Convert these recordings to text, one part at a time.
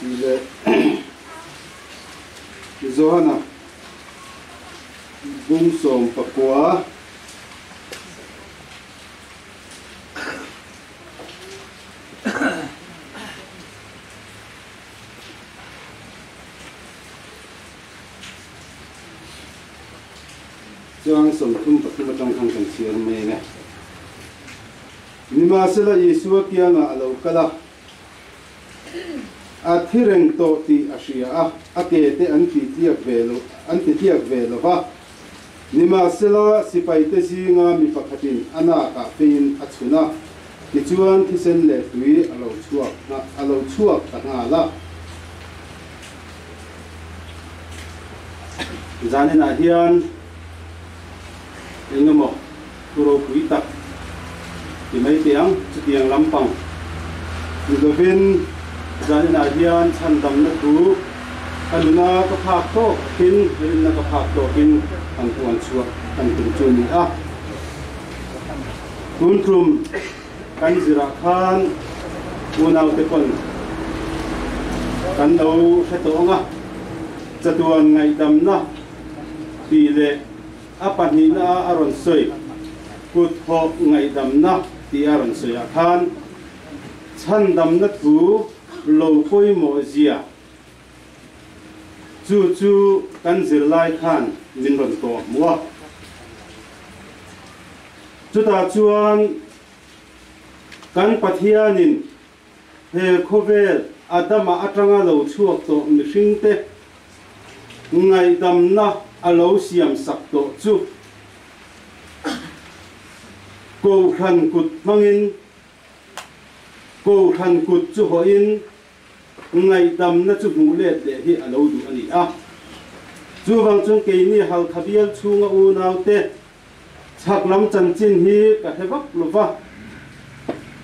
tih leh Johan-a bung sawm pakua chuan sawmthum pathum atang khan kan chhiar mai e nimahsela isua kiangah a lo kal a a thi reng tawh tih a hria a, a ke te an titiak ve lo an titiak ve lova. Nimahsela sipaite zinga mi pakhatin a nakah pheiin a chhun a, tichuan thisen leh tui a lo chhuak a lo chhuak ta nghal a. Zaninah hian engemaw thu ropui tak ti mai teh ang chutiang lampang Mizoven zaninah hian chhandamna thu a nuna ka phak tawkin rinna ka phak tawkin kan puan chhuak kan tum chu ni a tun tum kan zirah khan unaute pawn kan lo hre tawh anga chatuan ngaihdamna ti leh a pahnihna a rawn sawi kutthawh ngaihdamna ti a rawn sawi ah khan chhandamna thu lo pawimawh zia chu chu kan zirlai khan min rawn kawh hmu a chutah chuan kan pathianin he khawvel a dama atanga lo chhuak tawh mihringte ngaihdamna a lo siam sak tawh chu kohhran kut hmangin kohhran kut chu hoin ngaihdamna chu hmuh let leh hi a lo duh a ni a chuvang chuan keini halkha bial chhunga unaute chhak lam chanchin hi ka hre vak lova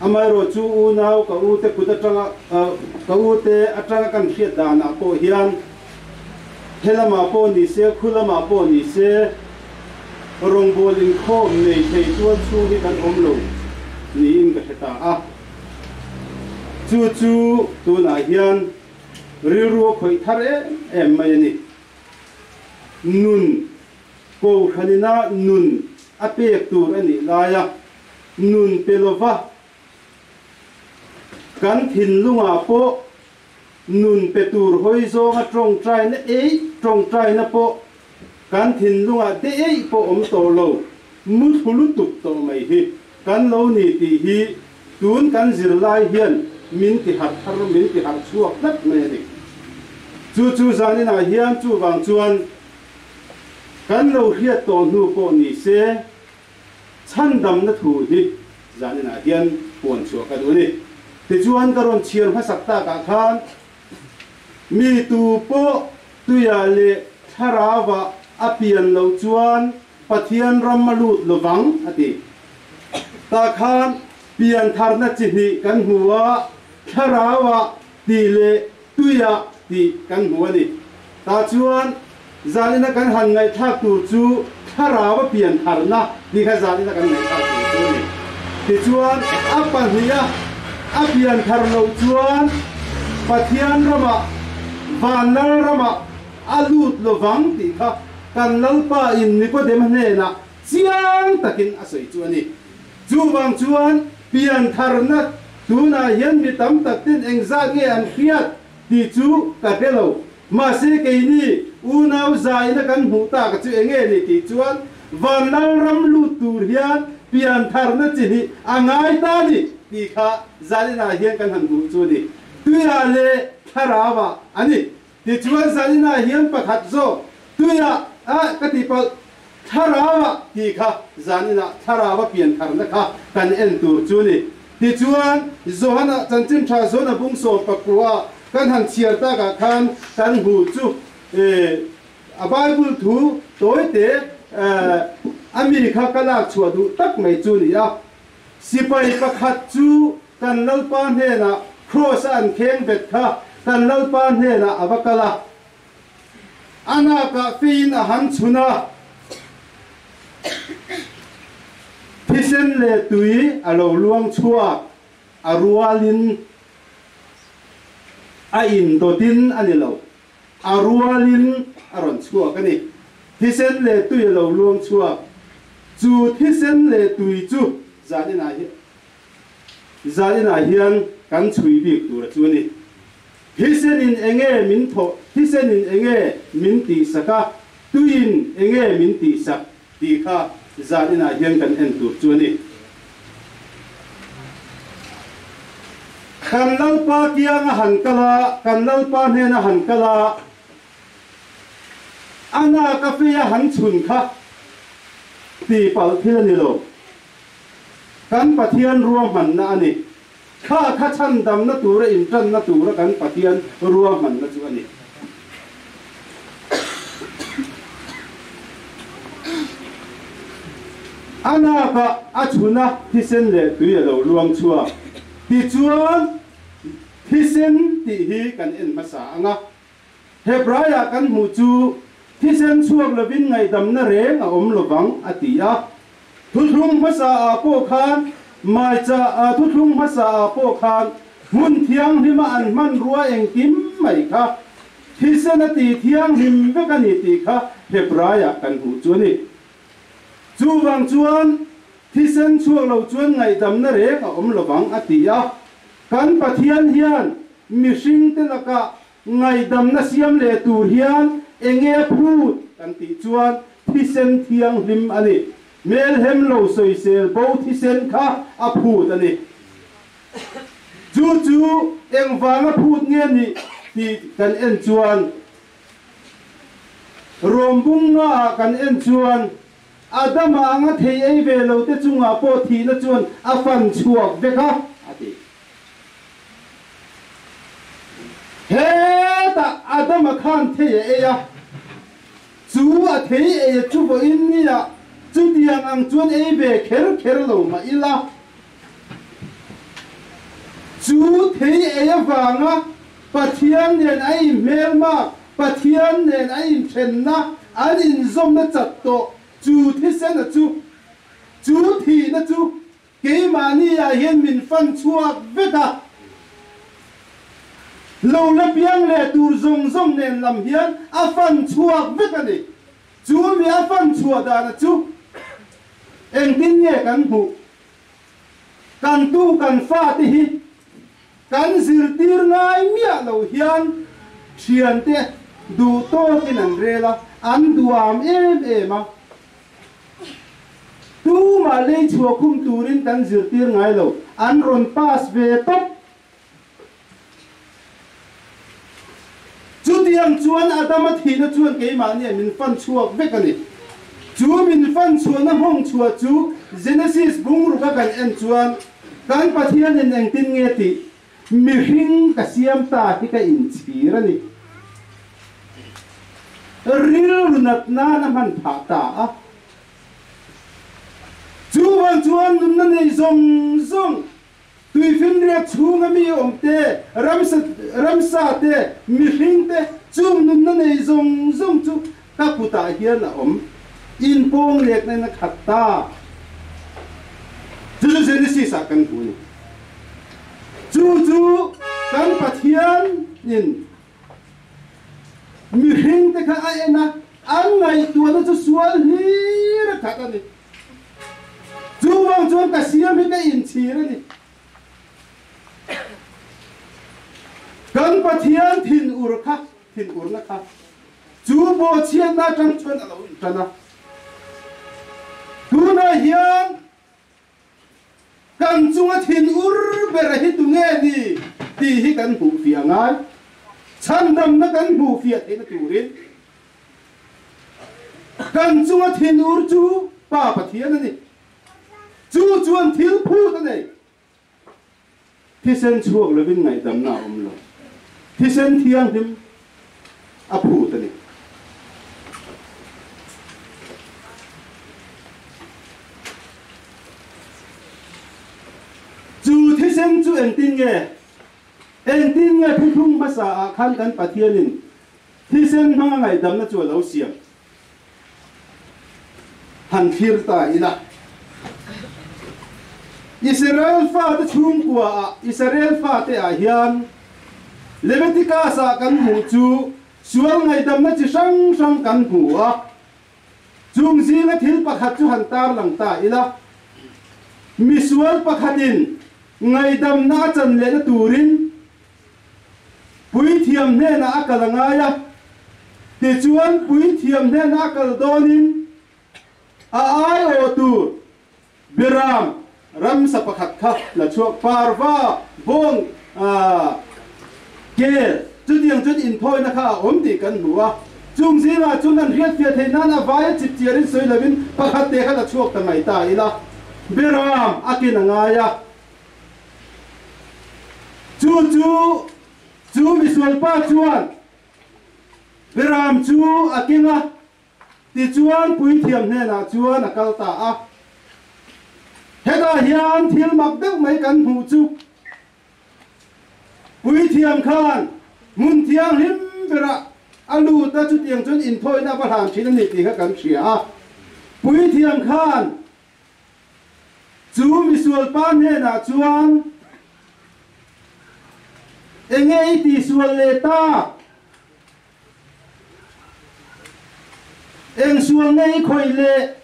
amaherawhchu unau ka u te kut atanga uh, ka u te atanga kan hriat danah pawh hian he lamah pawh ni se khu lamah pawh ni se rawngbawl inkhawm nei thei chuan chung hi kan awm lo niin ka hre ta a chu chu tunah hian rilru a khawih thar em em mai a ni nun Kohhran inah nun a pek tur a nih laia nun pe lova kan thinlungah pawh nun pe tur hawi zawnga ṭawngṭaina eih ṭawngṭaina pawh kan thinlungah de eih pawh awm tawh lo muthlu lutuk tawh mai hi kan lo ni tih hi tun kan zirlai hian min tiharh thar min tiharh chhuak tlat mai a ni. Chu chu zaninah hian chuvang chuan Kan lo hriat tawh hnu pawh ni se chhandamna thu hi zaninah hian puan chhuah ka duh ni. Tichuan ka rawn chhiar hmasak takah khan mi tu pawh tuia leh thlarauvah a pian loh chuan Pathian ram a lut lovang a ti. Ta khan pian tharna chi hnih kan hmu a, thlarauvah tih leh tuia tih kan hmu a ni tah chuan zalina kan han ngaihthlak tur chu thlarau a piantharna ti kha zalina kan ngaihthlak tur chu ni tichuan a pahniha a pian thar loh chuan Pathian ramah vanlal ramah a lut lovang tih kha kan lalpa in Nikodem hnenah chiang takin a sawi chu a ni Chuvang chuan piantharna tunah hian mi tam tak ten engzat nge an hriat tih chu ka hre lo. Mahse keini unau zaina kan hmuh tak chu enge ni tih chuan vanlalram lut tur hian piantharna chi hi a ngai ta ni tih kha zaninah hian kan han hmuh chu ni tuiah leh thlarauvah a ni. Tichuan zaninah hian pakhat zawk tuiah a ka tipalh thlaraua ti kha zaninah thlaraua piankharna kha kan en tur chu ni tichuan Johana chanchin tha zawn a bung sawm pakua kan han chhiar takah khan kan hmu chu a Bible thu tawite ami kha ka lak chhuah duh tak mai chu ni a sipai pakhat chu kan Lalpa hnenah kross-a an khengvet kha kan Lalpa hnenah a va kal a, a nakah feiin a han chhun a, thisen leh tui a lo luang chhuak a rualin a indawtin a ni lo, a rualin a rawn chhuak a ni. Thisen leh tui a lo luang chhuak. Chu thisen leh tui chu zaninah hian zaninah hian kan chhui bik tur chu ni thisenin enge min tho thisenin enge min tih sak a tuin enge min tih sak tih kha zaninah hian kan en tur chu ni kan lalpa kiang a han kala kan lalpa hnen a han kala ana cafe a han chhun kha tihpalh thil a ni lo kan pathian ruahmanna a ni kha kha chhandamna tura intanna tura kan pathian ruahmanna chu a ni a naka a chhuna thisen leh tui a lo luang chhuak tichuan thisen tih hi kan en hmasa anga He praia kan hmuh chu thisen chhuak lovin ngaihdamna reng a awm lovang a ti a. Thuthlung hmasaah pawh khan maicha thuthlung hmasaah pawh khan hmun thianghlima an hmanrua engkim mai kha thisen a ti thianghlim vek a ni tih kha Hebraia kan hmuh chu a ni. Chu vang chuan thisen chhuak lo chuan ngaihdamna reng a awm lovang a ti a. Kan Pathian hian mihringte laka ngaidamna siam leh tur hian enge phut kan tih chuan thisen thianghlim a ni melhem lo sawisel bo thisen kha a phut a ni chu chu engvanga phut nge ni tih kan en chuan ruambungngaah kan en chuan Adama anga thei ei ve lote chungah pawh thihna chuan a fan chhuak vek a, a ti. Hetah Adama khan thei a ei a, chu a thei ei chu vawiin niah chutiang ang chuan ei ve kher kher lo mah ila Chu thei ei avanga Pathian nen a inhmelma, Pathian nen a inthenna an inzawmna chak tawh chu thisena chu chu thihna chu keimahniah hian min fan chhuak vek a. Lo la piang leh tur zawng zawng nen lam hian a fan chhuak vek a ni. Chu mi a fan chhuah dana chu engtin nge kan hmuh? kan tu kan fate hi kan zirtir ngai miah lo hian thiante duhtawkin an rel a an duam em em a tumah lei chhuah khum turin kan zirtir ngai lo an rawn pass ve tawp Chutiang chuan Adama thihna chuan keimahni min fan chhuak vek ani. Chu min fan chhuahna hawng chhuah chu Genesis bungrua kan en chuan kan Pathianin engtin nge tih mihring ka siam ta hi ka inchhir ani. Rilru natna na hman phah ta a. Chuvan chuan nunna nei zawng zawng tuifinriat chhunga mi awm te ramsa ramsa te mihring te chung nunna nei zawng zawng chu ka kutah hian a awm in pawng lekna na khat ta chu chu Genesis ah kan hmu ni chu chu kan Pathianin mihring te kha a en a an ngaihtuahna chu sual hlir a khat a ni chu bang chuan ka siam hi ka in chhir ani kan pathian thin ur kha thin urna kha chu bawhchhiatna tang chuan a lo in tan a tunah hian kan chunga thinur bera hi tu nge ni tih hi kan hmuh fiah ngai chhandamna kan hmuh fiah theihna turin kan chunga thinur chu pa pathian a ni chu chuan thil phut a nei thisen chhuak lovin ngaihdamna a awm lo. Thisen thianghlim a phut a ni. Chu thisen chu entin nge? Engtin nge phuthung hmasa ah khan kan Pathianin thisen hmanga ngaihdamna chu a lo siam? han thlir ta ila Israel fate chhungkua ah Israel fate ah hian Leviticus a kan hmu chu sual ngaihdamna chi hrang hrang kan hmu a chung zinga thil pakhat chu han tarlang ta ila misual pakhatin ngaidamna a chan lehna turin puithiam hnenah a kal a ngai a tichuan puithiam hnena kal dawnin a aiawh tur birang ramsa pakhat kha la chuak parva vawng kel chutiang chuan inthawina kha a awm tih kan hmu a chung zingah chuan an hriatfiah theih nan a vaia chipchiarin sawi lovin pakhat te kha la chhuak ta ngai ta ila beram akin a ngai a chu chu chu misualpa chuan Beram chu a keng a tichuan puithiam hnenah chuan a kal ta a hetah hian thil mak deuh mai kan hmuh chu puithiam khan hmun thianghlim berah a lut a chutiang chuan inthawina a va hlan thin a ni tih kha kan hria a puithiam khan Chu misualpa hnenah chuan enge i tisual leh ta? Eng sual nge i khawih le?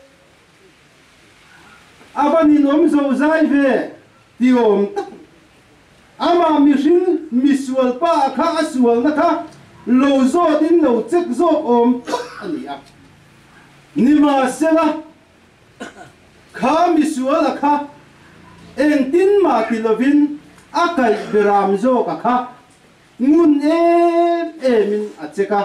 A va ninawm zozai ve ti awm tak ama mihring misualpa kha a sualna kha lo zawtin lo chek zawk awm a ni a. Nimahsela kha misuala kha engtin mah ti lovin a kaih beram zawk a kha ngun em emin a che ka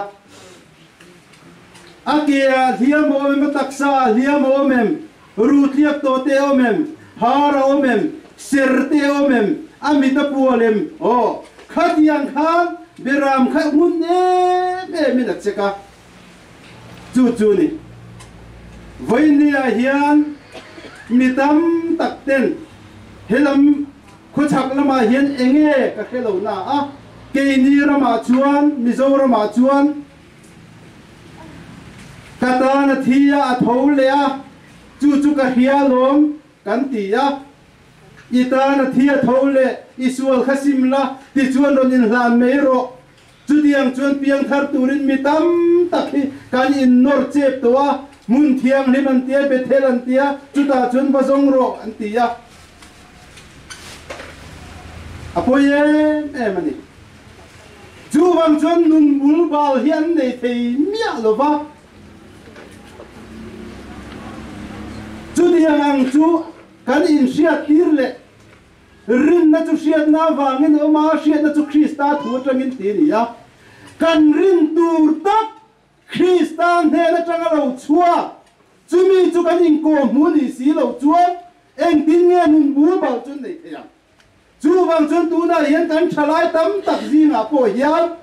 a ke hliam awm em taksa hliam awm em ru tliak to te awm em har awm em ser te awm em a mita pual em o khatiang khan beram kha ngun em emin a che ka chu chu ni vawinia hian mi tam tak ten helam khawchhak lamah hian enge ka hre lo na a keini ramah chuan mizoramah chuan ka tan a thi a tho leh a chu chu ka hria lawm kan ti a i tan a thi a tho leh i sual kha sim la ti chuan rawn inhlan mai rawh chutiang chuan piangthar turin mi tam tak hi kan innawr chep tawh a hmun thianghlim an tia bethel an tia chutah chuan vazawng ruak an tia a pawi em em ani chuvang chuan nun bul bal hi an nei thei miah lova chutiang ang chu kan inhriattir leh rinna chu hriatna avangin awma hriatna chu Krista thu atangin ti ni a kan rin tur tak Krista hnen atanga lo chuak chumi chu kan inkawmhmu ni si lo chuan engtin nge nun bul bal chu nei thei ang chuvang chuan tunah hian kan thalai tam tak zingah pawh hian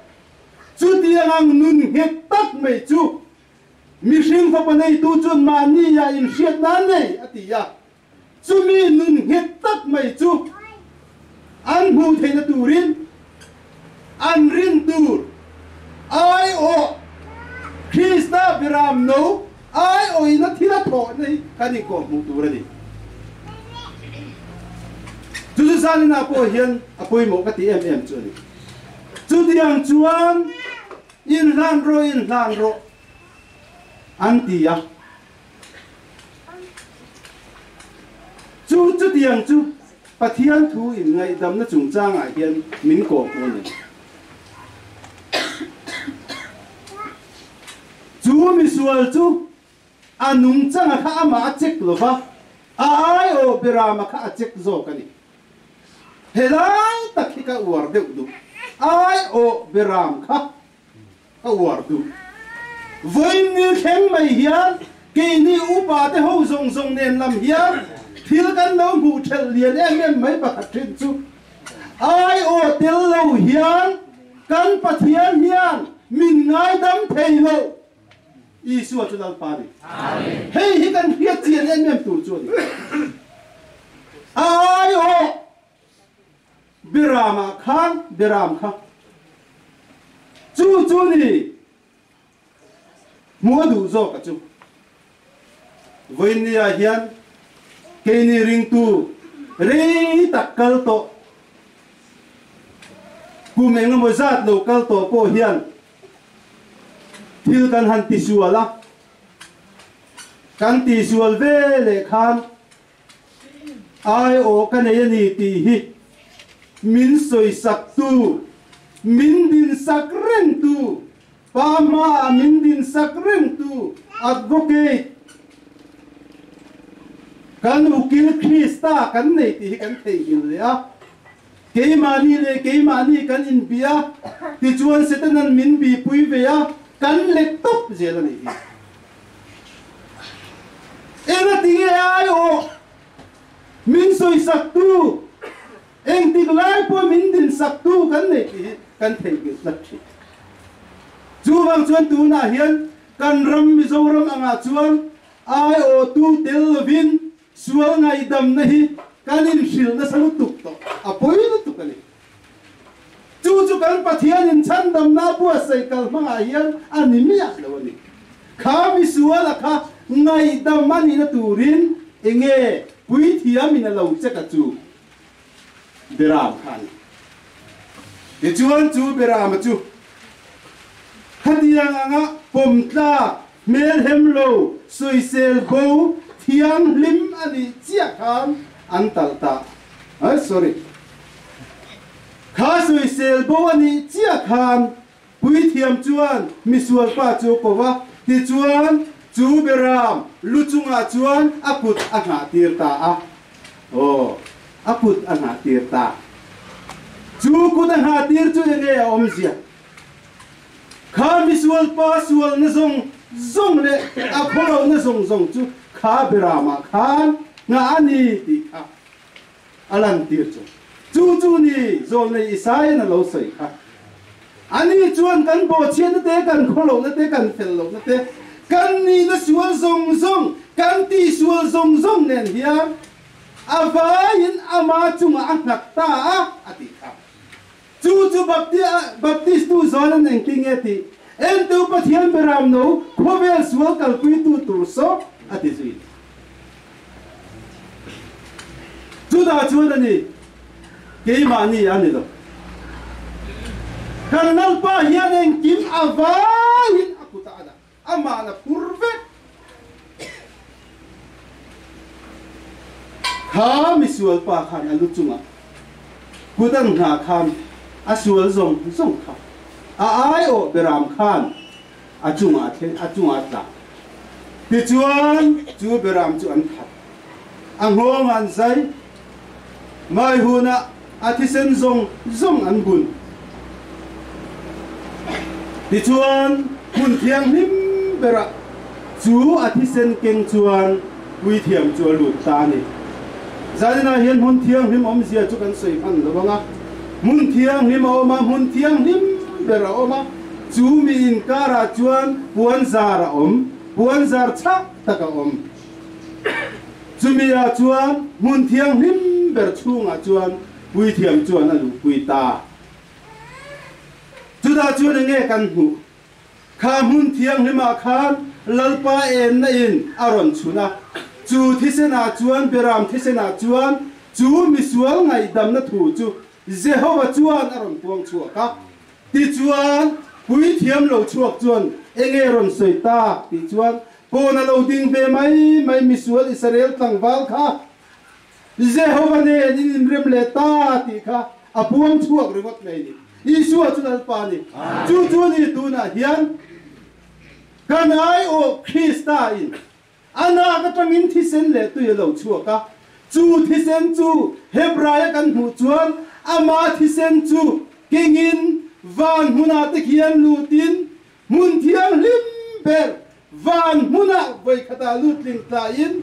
chutiang ang nun nghek tak mai chu mihring fapa neitu chuan mahnia inhriat nan nei a ti a chumi nun nghet tak mai chu an hmuh theihna turin an rin tur aiawh Krishna biram no aiawina thila thawhna hi kan inkawm hmuh tur a ni. Chu chu salina pawh hian a pawimawh ka ti em em chu a ni. Chutiang chuan inhlan ro inhlan ro an ti a. chu chutiang chu Pathian thu in ngaihdamna chungchangah hian min ko pu ni chu misual chu a nungchanga kha ama a chek lova a ai o birama kha a chek zawk ani helai tak hi ka uar deuh du ai o biram kha a uartu vawiin ni thleng mai hian keini upa te ho zawng zawng nen lam hian thil kan lo hmuh thelh lian em em mai pakhat thin chu ai aw tel lo hian kan pathian hian min ngaidam thei lo Isua chu lalpa ni hei hi kan hriat chian em em tur chu ni ai aw Biramah khan Biram kha chu chu ni mua duh zawk a chu vain ni ah hian keini ringtu rei tak kal to kum eng emaw zat lo kal to pawh hian thil kan han tisual a kan tisual ve leh khan Aiawh ka nei a ni tih hi min sawisaktu, min dinsak rengtu, pa hmaah min dinsak rengtu advocate kan ukil Krista kan nei tih hi kan theihnghilh leh a. keimahni leh keimahni kan inbia tichuan setanan min bipui ve a kan lek top zel a nih hi enga tinge ai o min sawisaktu engtik lai pawh min din saktu kan nei tih kan theihnghilh tlat thin chuvang chuan tunah hian kan ram mizoram angah chuan ai o tu tel lovin sual ngaihdamna hi kan inhrilh nasa lutuk tawh a pawi lutuk a ni chu chu kan pathianin chhandamna buatsaih kal hmangah hian a ni miah lo a ni kha misuala kha ngaihdam a nihna turin enge puithiamin a lo cheka chu beram khan ti chuan chu berama chu khatiang anga pawm tlak hmelhem lo, sawisel bo, thianghlim a nih chiah khan an talh ta. Ay, sorry. Kha sawisel bo a nih chiah khan puithiam chuan misual pa chu ko va, tichuan chu beram lu chungah chuan a kut a hnahtir ta a. Oh, a kut a hnahtir ta. Chu kut a hnahtir chu enge a awmzia? kha misual pa sualna zawng zawng leh a khawlohna zawng zawng chu kha berama khan nga ani tih kha a lantir chu chu chu ni zawlnei Isaia'n a lo sawi kha ani chuan kan bawhchiatna te kan khawlohna te kan fellohna te kan nihna sual zawng zawng kan tisual zawng zawng nen hian avaiin ama chunga a nghat ta a a ti kha chu chu baptistu zalan engki nge ti entu pathian beram no khawvel sual kalpuitu tur sok a ti zui juda chuan ani keimahni a ni lo karnal pa hian engkim avangin a kuta ana amah la pur vek kha misual pa khan a lu chunga kudang hna khan a sual zong zong kha a ai o beram khan a chunga thleng a chunga tlang tichuan chu beram chu an khat a nghawng an zai Mai huna a thisen zawng zawng an bun. Tichuan hmun thianghlim bera chu a thisen keng chuan puithiam chu a lut ta ni. Zaninah hian hmun thianghlim awmzia chu kan sawi hman lo anga. Hmun thianghlim a awm a, hmun thianghlim ber a awm a. Chu mi inkarah chuan puanzar a awm, puanzar chak tak a awm. chumi ah chuan hmun thianghlim ber chhungah chuan puithiam chuan a luhpui ta chutah chuan enge kan hmuh kha hmun thianghlimah khan lalpa enna in a rawn chhun a chu thisenah chuan beram thisenah chuan chu misual ngaihdamna thu chu Jehova chuan a rawn tuang chhuak a tichuan puithiam lo chhuak chuan enge rawn sawi tak ti chuan pawn a lo ding ve mai mai misual Israel tlangval kha Jehova nen in inrem leh ta tih kha a buang thuak ringawt mai ni Isua chu lalpa ni chu chu ni tunah hian kan ai o Krista in anak atangin thisen leh tui a lo chuak a chu thisen chu Hebraia kan hmuh chuan ama thisen chu kengin van hmunah te khian lutin hmun thianghlim ber van hmunah vawikhatah lut tling tlaiin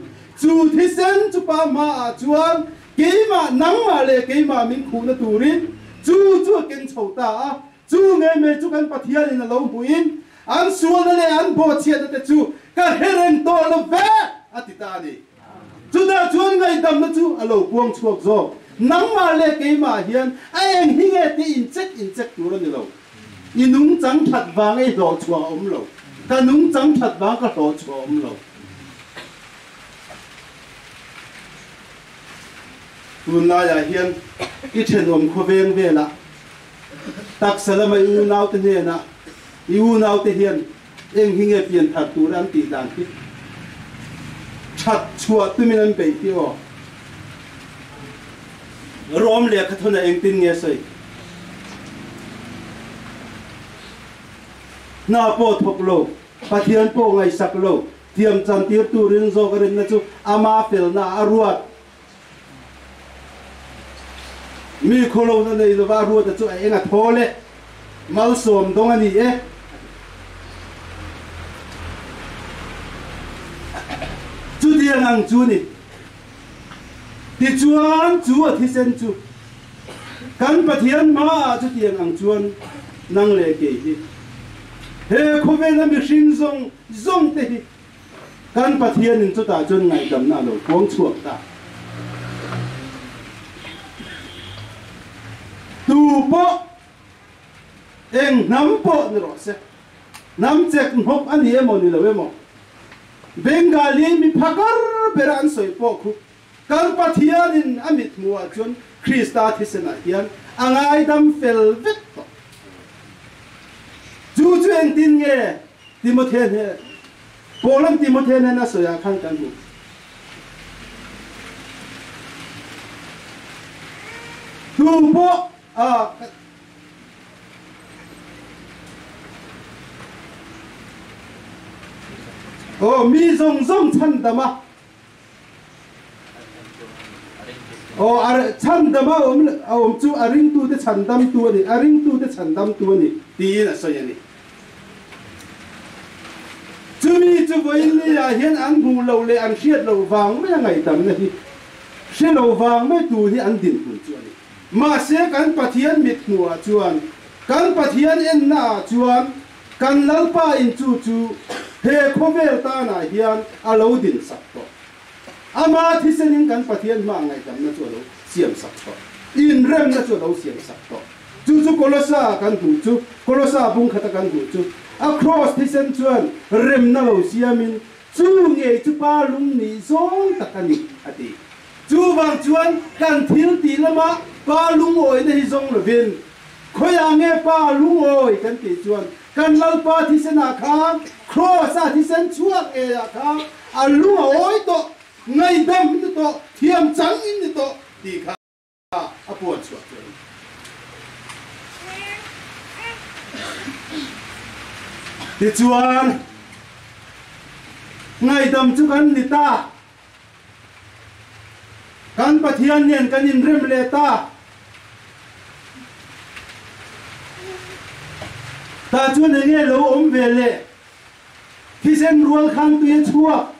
chu thisen chu pa hmaah chuan keimah nangmah leh keimah min khuhna turin chu chu a ken chho ta a chu ngei mai chu kan pathianin a lo hmuin an sualna leh an bawhchhiatna te chu ka her reng tawh lo ve a ti ta ni Chutah chuan ngaihdamna chu a lo puang chhuak zawk. Nangmah leh keimah hian a eng hi nge ti inchek inchek tur a ni lo. I nungchang that vang ei hlawh chhuah a awm lo. Ka nungchang that vang ka hlawh chhuah a awm lo. Tunlaiah hian i thenawm khawveng velah taksa lama i unaute hnenah i unaute hian eng hi nge pianthar tur an tih dan hi that chhuah tumin an bei ti aw rom leh khathuna engtin nge sawi na pawh thawk lo pathian pawh ngaihsak lo thiam chan tir turin zawk a rinna chu ama felna a ruat mi khawlona nei lova ruata chu a eng a thol e malsawm dong a ni e chutiang ang chu ni tichuan chu a thisen chu kan pathian ma a chutiang ang chuan nang le kei hi he khawvel a mihring zong zong te hi kan Pathianin chutah chuan ngaihdamna a lo puang chhuak ta. Tu pawh eng hnam pawh ni rawh se hnam chek mhawk ani emaw ni lo emaw Bengali mi phakar bera an sawi pawh khu Kan Pathianin a mithmuhah chuan Krista thisenah hian a ngaidam fel vek tawh. Chu chu engtin nge Timothea hnên Pawlam Timothea hnên a sawiah khan kan hmu? Tu pawh ah Oh, mi zawng zawng chhandama Oh, ar chhandama a awm a awm chu a ringtute chhandamtu ani, a ringtute chhandamtu ani tiin a sawi ani. Chumi chu vawiin niah hian an hmuh loh leh an hriat loh vang maia ngaihdamna hi hre lo vang mai tu hi an dinhmun chu ani. Mahse kan Pathian mit hmuhah chuan kan Pathian ennaah chuan kan lalpa in chu chu he khawvel tanah hian a lo din sak tawh ama thisenin kan pathian hmaa ngaihdamna chu a lo siam sak tawh inremna chu a lo siam sak tawh chu chu kolosa kan hmu chu kolosa bung khata kan hmu chu a cross thisen chuan remna lo siamin chu ngei chu pa lung ni zawng tak a ni a ti Chuvang chuan kan thil tih lama pa lungawina hi zawng lovin khawiah nge pa lungawi kan tih chuan kan lalpa thisena khan krosa thisen chhuak ngeiah khan a lungawi tawh ngaihdam ni tawh thiam chang in ni tawh tih kha a puan chhuah tel. Tichuan, ngaihdam chu kan ni ta. Kan Pathian hian kan inrem leh ta. Ta chuan enge lo awm ve le? Thisen rual khang tu ye chuak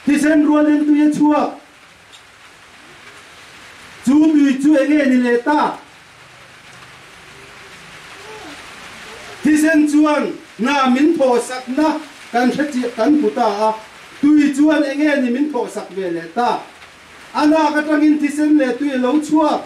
Thisen rualin tui a chuak. Chu tui chu enge ni leh ta? Thisen chuan na min thawhsakna kan hre kan hmu ta a. Tui chuan enge ni min thawhsak ve leh ta? A nak atangin thisen leh tui lo chuak,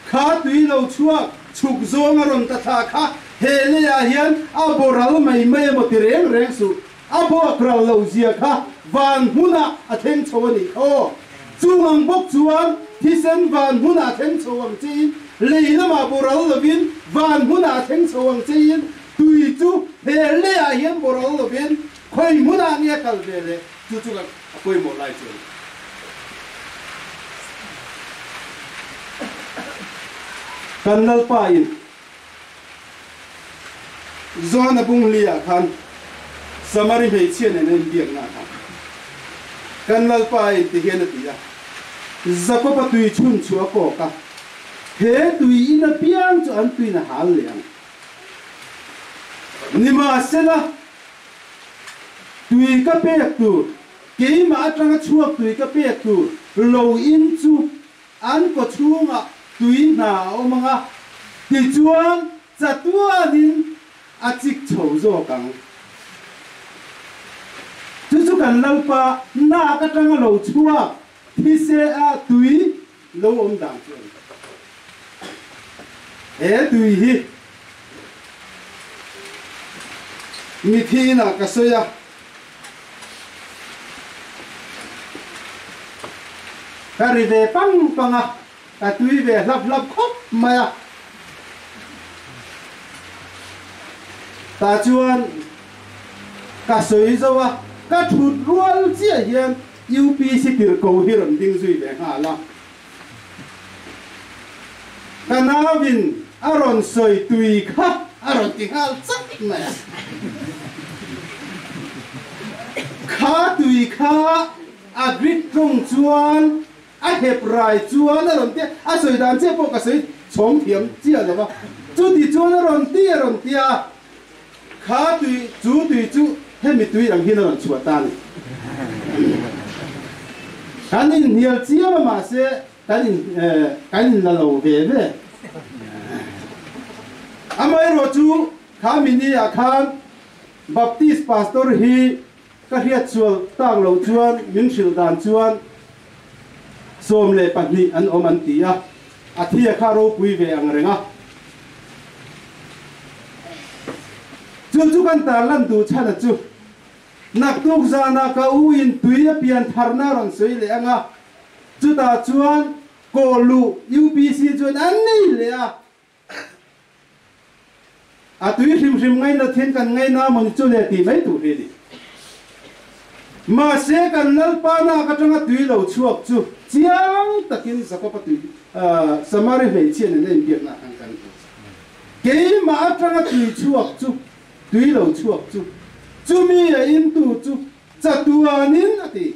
kha tui lo chuak, chhuk zawnga rawn ta thla kha he leiah hian a boral mai mai emaw ti reng reng suh. a buak rau lo zia kha van hmunah a thleng chho a nih kha chung ang bawk chuan thisen van hmunah thleng chho ang chein lei lamah boral lovin van hmunah thleng chho ang chein tui chu he leiah hian boral lovin khawi hmunah nge kal ve le chu chu kan a pawimawh lai chuan kan lalpa in John Abungliya khan Samari hmeichhia nen an inbiak na kha kan lalpa in ti hian a ti a Jakoba tui chhun chua pawka he tui in a piang chu an tui na hal leh ang nimahsela tui ka pek tur keima atanga chuak tui ka pek tur lo in chu an kawchhungah tui hna a awm ang a, tichuan chatuanin a chik chho zawk ang. Chu chu kan lalpa nak atanga lo chhuak thisea tui lo awm dan chu ani. He tui hi mithi inah ka sawi a, ka ri ve pang pang a ka tui ve hlap hlap khawp mai a ta chuan ka sawi zo a ka thut rual chiah hian UPC tirhkoh hi rawn ding zui ve nghal a Hanauvin a rawn sawi tui kha a rawn ti nghal chak mai. Kha tui kha a grit ṭawng chuan a hep rai chuan a rawn te a sawi dan che pawh ka sawi chhawng thiam chiah lova. Chuti chuan a rawn ti a rawn ti a kha tui chu tui chu hemi tui ang hian rawn chhuah ta ni kan in hnial chiam a mahse se kan in eh, kan in la lo ve ve amaherawhchu kha mi ni ah khan baptist pastor hi ka hriat sual tak lo chuan min hrilh dan chuan sawm leh pahnih an awm an ti a a thia kha ropui ve ang reng a chu chu kan tarlan tu chhana chu naktuk zana ka u in tui a pian tharna rawn sawi leh anga chutah chuan kawlu UPC chuan an nei leh a a tui hrim hrim ngaina thiên kan ngaina maw ni chu le ti mai tur hi ni mahse kan lalpa nak atanga tui lo chuak chu chiang takin zakopa tui uh, samari hmeichhian in en biakna kan kan tu keima atanga tui chuak chu tui lo chuak chu chumi a in tu chu chatuanin ati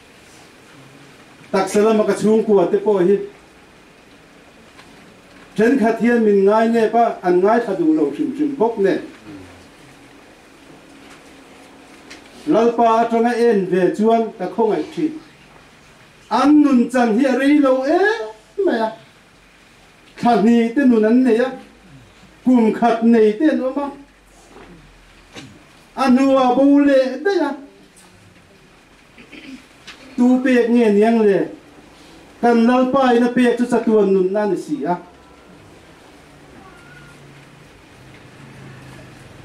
taksa lama ka chhungkua te pawh hi thenkhat hian min ngainep a an ngaithla duh lo hrim hrim bawk nen lalpa atanga en ve chuan ka khawngaih thin an nun chan hi a rei lo em mai a thla hnih te nun an nei a kum khat nei te an awm a a hnuah bo leh daih a tu pek nge niang le kan lalpa in a pek chu chatuan nunna ni si a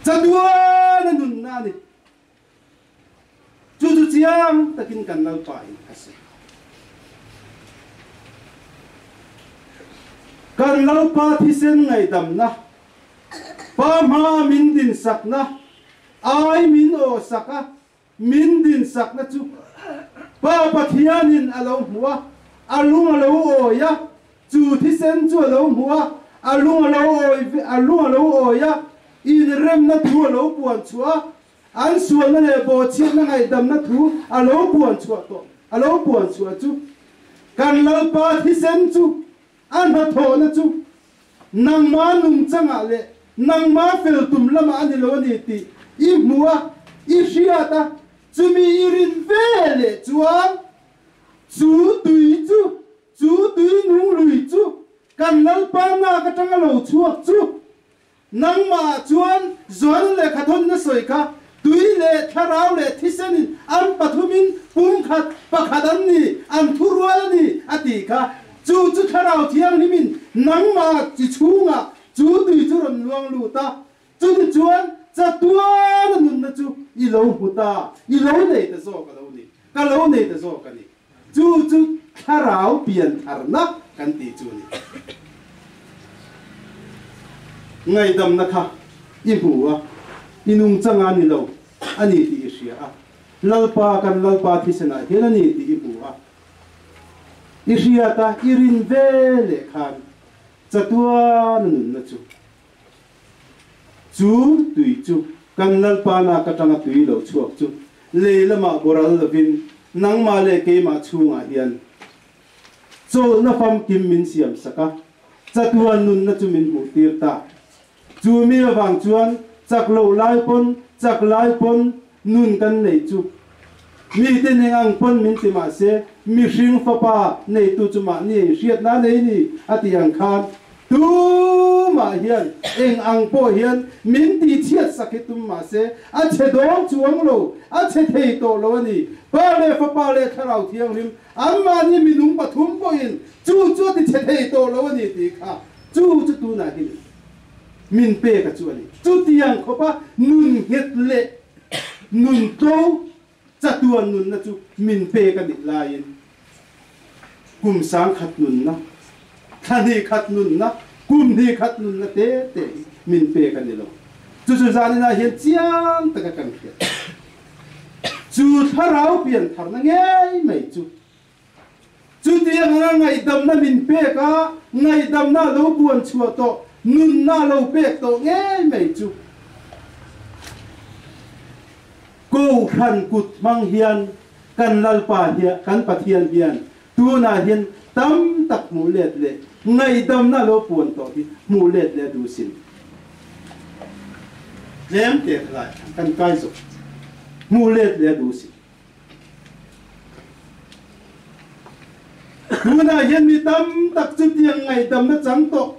chatuan a nunna ni chu chu chiang takin kan lalpa in a si kan lalpa thisen ngaidamna pa hma min din sakna ai min o saka min dinsakna chu Pa Pathianin a lo hmu a, a lung a lo awi a, chu thisen chu a lo hmu a, a lung a lo awi a lung a lo awi a, inremna thu a lo puan chhuah a, an sualna leh bawhchhiatna ngaihdamna thu a lo puan chhuah tawh a lo puan chhuah chu kan Lalpa thisen chu a hnathawhna chu nangma nungchangah leh nangma fel tum lama a ni lo ni tih i hmu a i hriat a chumi i rin veleh chuan chu tui chu chu tui nung lui chu kan lalpa nak atanga lo chhuak chu nangmah chuan zualna lehkhathawnna sawi kha tui leh thlarau leh thisenin an pathumin pumkhat pakhat an ni an thurual a ni a tih kha chu chu thlarau thianghlimin nangmah chi chungah chu tui chu rawn luang lut a chutichuan chatuana nunna chu i lo hmu ta i lo nei ta zawk a lo ni ka lo nei ta zawk a ni chu chu thlarau piantharna kan ti chu ni ngaihdamna kha i hmu a inung changa ni lo ani tih i hria a lalpa kan lalpa thisenah hian ani tih i hmu a i hriat a i rin veleh khan chatuana nunna chu chu tui chu kan lalpa nak atanga tui lo chhuak chu lehlamah boral lovin nangmah leh keimah chungah hian chawlhna famkim min siam saka chatuan nunna chu min hmuhtir ta chu mi avang chuan chak lo lai pawn chak lai pawn nun kan neih chu mite nen ang pawn min ti mah se mihring fapa neitu chu mahni hriatna nei ni a tih ang khan tumah hian eng ang pawh hian min tihchhiat sak hi tum mah se a chhe dawng chuang lo a chhe thei tawh lo ani pa leh fapa leh thlarau thianghlim anmahni minung pathum pawhin chu chu ti chhe thei tawh lo ani tih kha chu chu tunah hin min pe ka chu ani chu tiang khawpa nun nghet leh Nungtawng chatuan nunna chu min pek a nih laiin kum sang khat nunna, thla hnih khat nunna, kum hnih khat nunna te te hi min pek a ni lo. Chu chu zaninah hian chiang taka kan hriat. Chu thlarau pian tharna ngei mai chu Chutianga ngaihdamna min pek a, ngaihdamna lo buan chhuah tawh, nunna lo pek tawh ngei mai chu. Kohhran kut hmang hian kan Lalpa hian kan Pathian hian tunah hian tam tak hmuh let leh ngaihdamna lo puan tawh hi hmuh let leh duh sin. Tlem te lai kan kai zo hmuh let leh duh sin. tunah hian mi tam tak chu tiang ngaihdamna chang tawh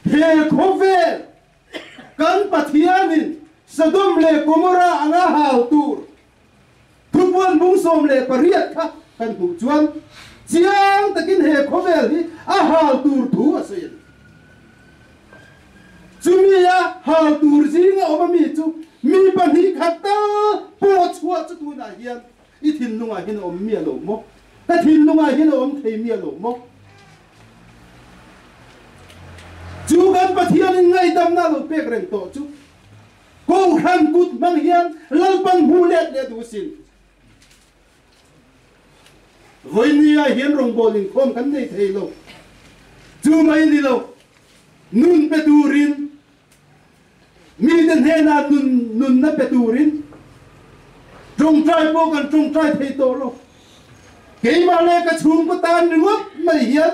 he khawvel kan pathianin Sodom leh Gomorrah anga hau tur thupuan bung sawm leh pariat kha kan hmuh chuan chiang takin he khawvel hi a hau tur thu a sawi chumi a ha tur zing a awm ami chu mi pahnih khat ta pawh chhuah chu tunah hian i thinlungah hian a awm miah lo maw ka thinlungah hian a awm thei miah lo maw chu kan pathianin ngaihdamna lo pek reng tawh chu kohhran kut hmang hian lalpan hmu let le duh sin Vawi ni-ah hian rawngbawl inkhawm kan nei thei lo. Chu mai ni lo, nun pe turin, mite hnenah nun, nunna pe turin, ṭawngṭai pawh kan ṭawngṭai thei tawh lo. Keimah leh ka chhungkaw tan ringawt mai hian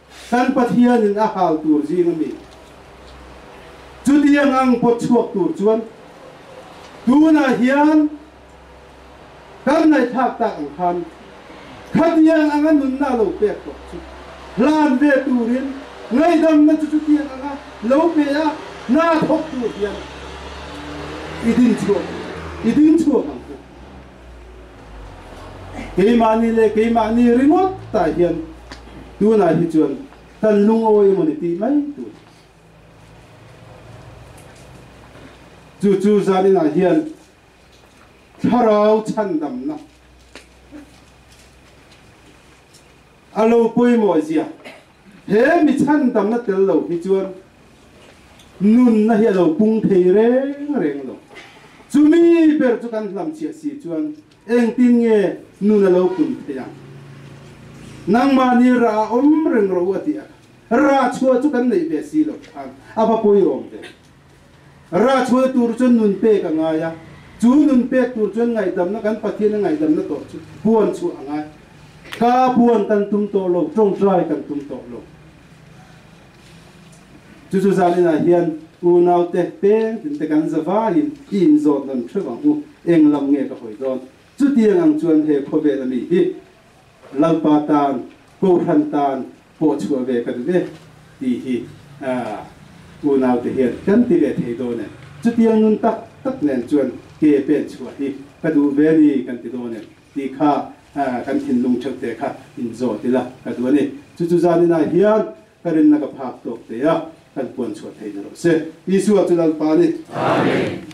kan Pathianin a hal tur zing ami chutiang ang pot chuak tur chuan tunah hian kan nai thak tak ang khan khatiang anga nunna lo pek tawh chu hlan ve turin ngaihdamna chu chutiang anga lo pe a na thok tur hian idin chuak idin chuak ang keimahni leh keimahni ringawt ta hian tunah hi chuan kan lungawi emaw ni tih mai tur chu chu zaninah hian thlarau chhandamna a lo pawimawh zia he mi chhandamna tel lo hi chuan nunna hi a lo pung thei reng reng lo chumi ber chu kan hlamchhiah si chuan engtin nge nun a lo pun theih ang nangmahni ra awm reng rawh u a ti a ra chhuah chu kan neih ve si loh khan a va pawirawm ve Rachhuah tur chuan nun pek a ngai a, chu nun pek tur chuan ngaihdamna kan Pathian a ngaihdamna tawh chu puan chu a ngai. Ka puan kan tum tawh lo, ṭawngṭai kan tum tawh lo. Chu chu zalenah hian unaute pengtinte kan zavaiin i inzawt nawn ṭheuh ang u, eng lam nge ka hawi dawn? Chutiang ang chuan he khawvel ami hi Lalpa tan, kohhran tan pawhchhuah ve ka duh e, tih hi unaute hian kan ti ve thei dawn em? Chutia nun tak tak nen chuan ke pen chhuah hi ka duh ve ni kan ti dawn em? tih kha kan thinlung ṭheuhte kha inzawt ila ka duh a ni. Chu chu zaninah hian ka rinna ka phak tawkte a kan puan chhuah theih ni rawh se. Isua chu Lalpa a ni. Amen.